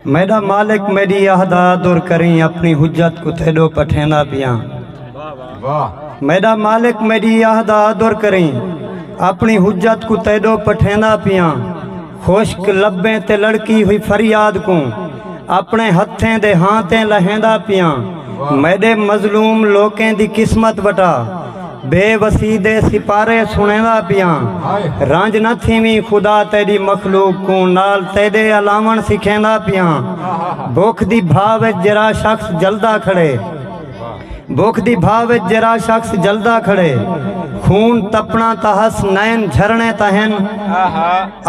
میڈا مالک میڈی اہدا در کریں اپنی حجت کو تیڈو پٹھیندا پیاں میڈا مالک میڈی اہدا در کریں اپنی حجت کو تیڈو پٹھیندا پیاں خوشک لبیں تے لڑکی ہوئی فریاد کو اپنے ہتھیں دے ہاں تے لہیندا پیاں میڈے مظلوم لوکیں دی قسمت وٹا بے وسی دے سپارے سݨیندا پیاں رنج نہ تھیویں خدا تیݙی مخلوق کوں نال تیݙے الاوݨ سکھیندا پیاں بکھ دی بھا وچ جیرھا شخص جلدا کھڑے بکھ دی بھا وچ جیرھا شخص جلدا کھڑے خون تپݨا تاں ہس نئن جھرݨے تاں ہن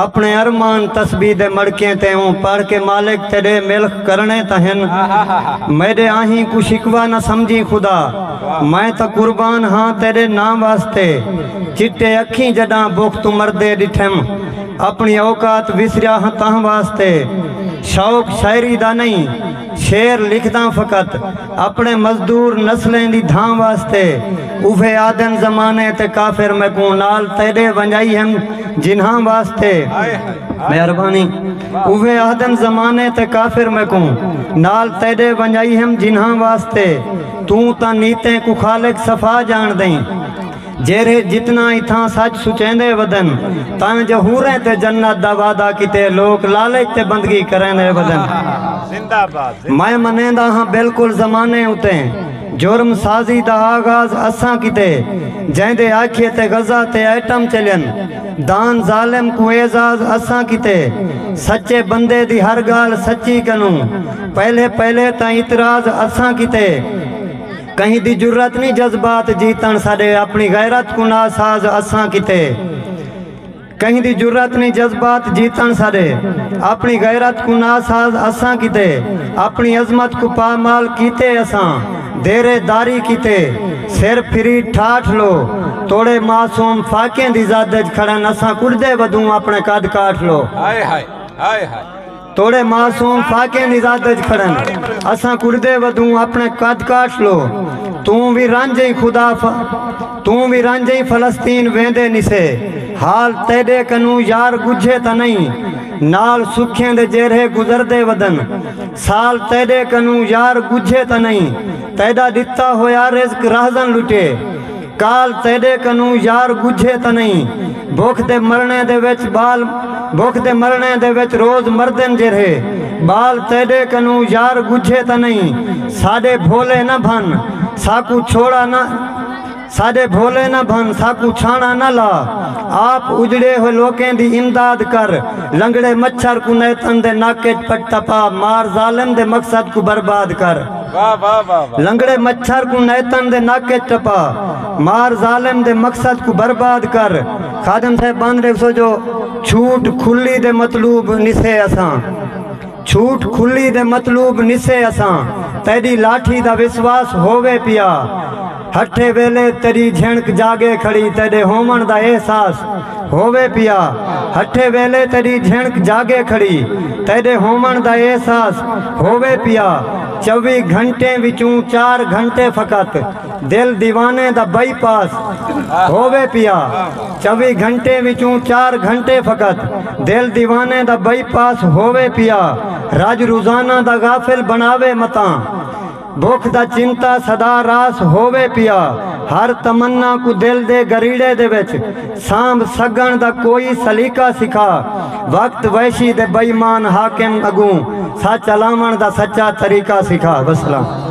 اپݨے ارمان تسبیح دے مڑکیں تے اوں پڑھ کے مالک تیݙے ملخ کرݨے تاں ہن میݙے آہیں کوں شکوہ نہ سمجھیں خدا میں تاں قربان ہاں تیݙے ناں واسطے چٹے اکھیں جݙاں بکھ توں مردے ݙٹھم اپݨی اوقات وسریا ہاں تاں واسطے شوق شاعری دا نئیں شعر لکھداں فقط اپݨے مزدور نسلیں دی دھاں واسطے اوہے آہدن زمانے تے کافر میکوں نال تیݙے ونڄائی ہن جنہاں واسطے مہربانی اوہے آہدن زمانے تے کافر میکوں نال تیݙے ونڄائی ہن جنہاں واسطے توں تاں نیتیں کوں خالق صفا ڄاݨدئیں جیرھے جتنا اتھاں سچ سچیندے ودن تاں جو حوریں تے جنت دا وعدہ کیتے لوک لالچ تے بندگی کریندے ودن۔ میں منیندا ہاں بالکل زمانے اتے جرم سازی دا آغاز اساں کیتے جیندے آکھیے تے غزہ تے ایٹم چلین دان ظالم کوں اعزاز اساں کیتے سچے بندے دی ہر گالھ سچی کنوں پہلے پہلے تاں اتراز اساں کیتے کہیں دی جرات نی جذبات جیتݨ ساݙے اپݨی غیرت کوں ناساز اساں کیتے کہیں دی جرات نی جذبات جیتݨ ساݙے اپݨی غیرت کوں ناساز اساں کیتے اپݨی عظمت کوں پامال کیتے اساں دیرے داری کیتے سر پھری ٹھاٹھ لو توڑے معصوم فاقیں دی زد اچ کھڑن اساں کڈھدے ودوں اپݨے قد کاٹھ لو ہائے ہائے ہائے ہائے توڑے معصوم فاقے نزاد اچ کھڑن اساں کڑدے ودوں اپنے قد کاٹ لو توں وی رنج ایں خدا ف توں وی رنج ایں فلسطین ویندے نسے حال تیڈے کنوں یار گجھے تاں نئیں نال سکھیں دے جیرھے گزردے ودن سال تیڈے کنوں یار گجھے تاں نئیں تیڈا ڈتا ہویا رزق راہزن لٹے کال تیڈے کنوں یار ڳجھے تاں نئیں بکھ دے مرݨے دے وچ ٻال بکھ دے مرݨے دے وچ روز مردن جیرھے ٻال تیڈے کنوں یار ڳجھے تاں نئیں ساݙے بھولے نہ بھن ساکوں چھوڑا نہ ساݙے بھولے نہ بھن ساکوں چھاݨا نہ لا آپ اجڑے ہوئے لوکیں دی امداد کر لنگڑے مچھر کوں نیتن دے نک اچ پٹا پا مار ظالم دے مقصد کوں برباد کر لنگڑے مچھر کوں نیتن دے نک اچ ٹپا مار ظالم دے مقصد کوں برباد کر خادم صاحب بند ڈیکھسو جو چھوٹ کھلی دے مطلوب نسے اساں چھوٹ کھلی دے مطلوب نسے اساں تیڈی لاٹھی دا وسواس ہووے پیا ہٹھے ویلے تیݙی جھنک جاڳے کھڑی تیݙے ہووݨ دا احساس ہووے پیا ہٹھے ویلے تیݙی جھنک جاڳے کھڑی تیݙے ہووݨ دا احساس ہووے پیا چووی گھنٹیں وچوں چار گھنٹے فقط دل دیوانے دا بائی پاس ہووے پیا چووی گھنٹیں وچوں چار گھنٹے فقط دل دیوانے دا بائی پاس ہووے پیا رج روزانہ دا غافل بݨاوے متاں بکھ دا چمتا سدا راس ہووے پیا۔ ہر تمنا کوں دل دے گریڑے دے وچ سانبھ سگنڑ دا کوئی سلیقہ سکھا۔ وقت وحشی دے بئیمان حاکم اگوں سچ الاونڑ دا سچا طریقہ سکھا۔ وسلام۔